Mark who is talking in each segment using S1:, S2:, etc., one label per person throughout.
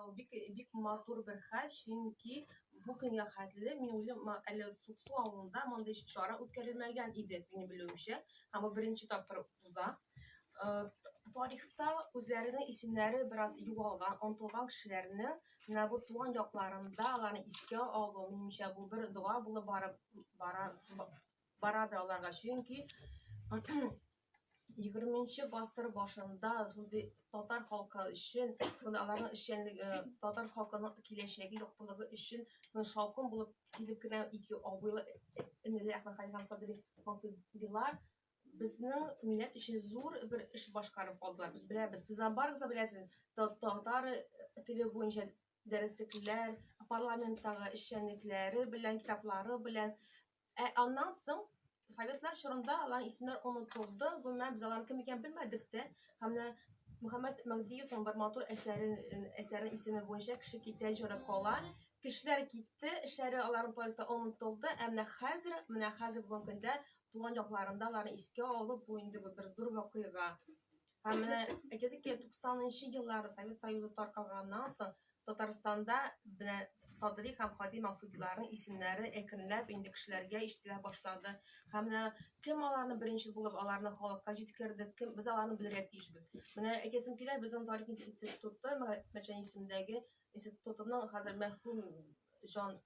S1: Ул бик бик матур бер хәл, чөнки бу көнгә хәтле мин уйлыйм, әле Суксу авылында мондый чара үткәрелмәгән иде, минем белүемчә. Һәм бу беренче тапкыр уза. Тарихта үзләренең исемнәре бераз югалган, онтылган кешеләрне менә бу туган якларында аларны искә алу, минемчә, бу бер дога булып барып бара Барады аларга, чөнки егерменче гасыр башында шундый татар халкы өчен, шундый аларның эшчәнлеге, татар халкының киләчәге яктылыгы өчен шаукым булып килеп кенә ике абыйлы энеле Әхмәт Хәлиф һәм Садри Мактубилар безнең милләт өчен зур бер эш башкарып калдылар. Без беләбез, сез барыгыз да беләсез, татар теле буенча дәреслекләр, парламенттагы эшчәнлекләре белән, китаплары белән. Ә аннан соң советлар чорында алар исемнәр онытылды, гомумән без алар кем икәнен белмәдек тә. Һәм менә Мөхәммәт Мәгдиевның бер матур әсәре, әсәре исеме буенча кеше китә, җыры кала. Кешеләр китте, эшләре аларның тарихта онытылды, ә менә хәзер, менә хәзер бүгенге көндә туган якларында аларны искә алып, бу инде бер зур вакыйга. Һәм менә әйтәсе килә, 90нчы еллар Совет Союзы таркалганнан соң Татарстанда менә Садри һәм Хади Максудиларның исемнәре әкренләп инде кешеләргә ишетелә башлады. Һәм менә кем аларны беренче булып аларны халыкка җиткерде, кем без аларны белергә тиешбез. Менә әйтәсем килә, безнең тарих институты Мәчән исемендәге Ничек тотының хәзер мәхрүм җан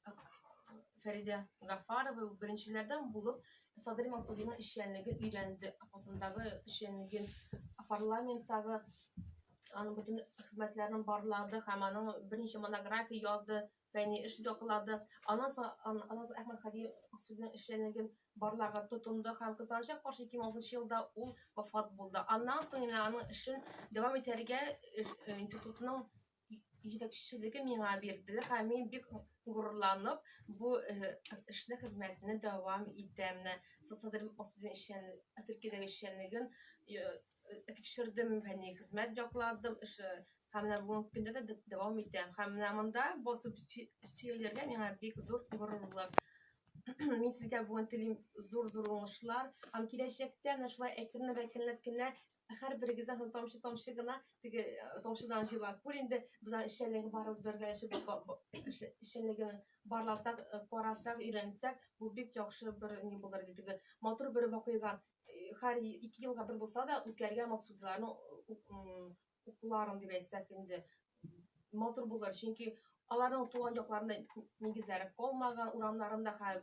S1: Фәридә Гафарова беренчеләрдән булып Садри Мансуринның эшчәнлеген өйрәнде, апасындагы эшчәнлеген, парламенттагы аның бөтен хезмәтләрен барлады һәм аның берничә монография язды, фәнни эш яклады. Аннан соң Аназ Әхмәт Хади Мансуринның эшчәнлеген барларга тотынды һәм кызганычка каршы 2006 елда ул вафат булды. Аннан соң инде аның эшен дәвам итәргә институтның җитәкчелеге миңа бирде һәм мин бик горурланып бу э, эшне хезмәтне дәвам итәм менә социаль масудин эшчән төркиядәге эшчәнлеген э, э, тикшердем фәнни хезмәт якладым эше һәм менә бүгенге көндә дә дәвам итәм һәм менә монда басып сөялергә миңа бик зур горурлык мин сезгә бүген телим зур зур уңышлар һәм киләчәктә менә шулай әкренләп әкренләп кенә һәрберегездән тамчы тамчы гына теге э, томшыдан җыйлар күр инде без аны эшчәнлеге барыбыз бергә эшебез ба- ба- эш- эшчәнлеген барласак э, карасак өйрәнсәк бу бик яхшы бер ни булыр иде теге матур бер вакыйга э, һәр е- ике елга бер булса да үткәргән максудиларның у- м, укуларын дип әйтсәк инде матур булыр чөнки аларның туган якларында нигезләре калмаган урамнарында хәл